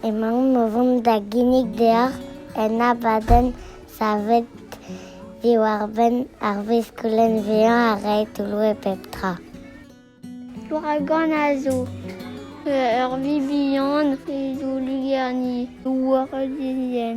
Emaomp o vont da ginnig deoc'h un abadenn savet diwar-benn ar veskoulenn vezañ ha reiñ toull-web pep tra. Ouragan a zo ur vi bihan zo lugerni war dizien.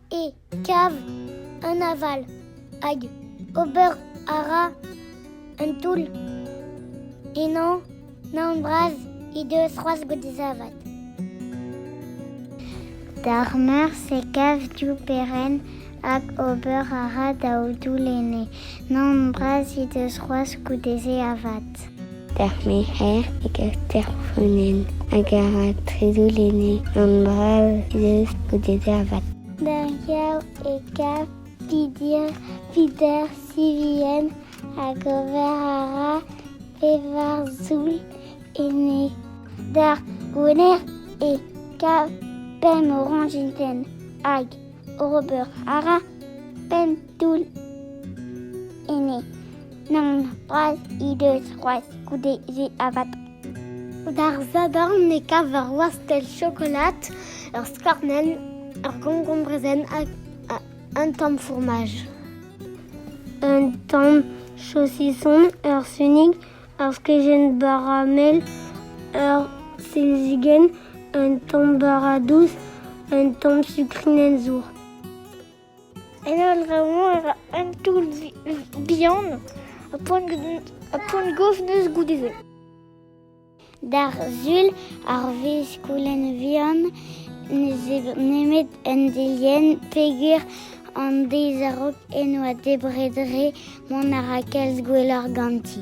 e kav an aval hag ober a ra un toull. Ennañ naon bras he deus c'hoazh gwallzavad. D'ar meur e kav div perenn hag ober a ra daou doull enne. Nann, bras he deus c'hoazh goude-se avat. D'ar merc'her e gav terfonen hag a ra trezoulenne. Nann, bras he deus goude-se avat. D'ar gav e gav Pidir, Pider Sivien hag ober a ra pevar zoull ene. D'ar gouner e kav pemp orañjintenn hag ober a ra penn toull ene. Nann, bras he deus c'hoazh goude-se avat. D'ar zadarn e kav ur wastell chokolad, ur skornell, ur gongombrezenn hag un tamm fourmaj. Un tamm saucisson, ur sunig, ur skejenn baramel, ur silzigenn, un tamm bara dous, un tamm sukrinenn zour. En holl-draoù-mañ e ra un toull bihan ha poent-gov neuz goude-se. D'ar sul, ar vezh-skoulen vihan n'ez eo nemet un delienn peger an deiz a-raok en oa debret re mont a ra kalz gwelloc'h ganti.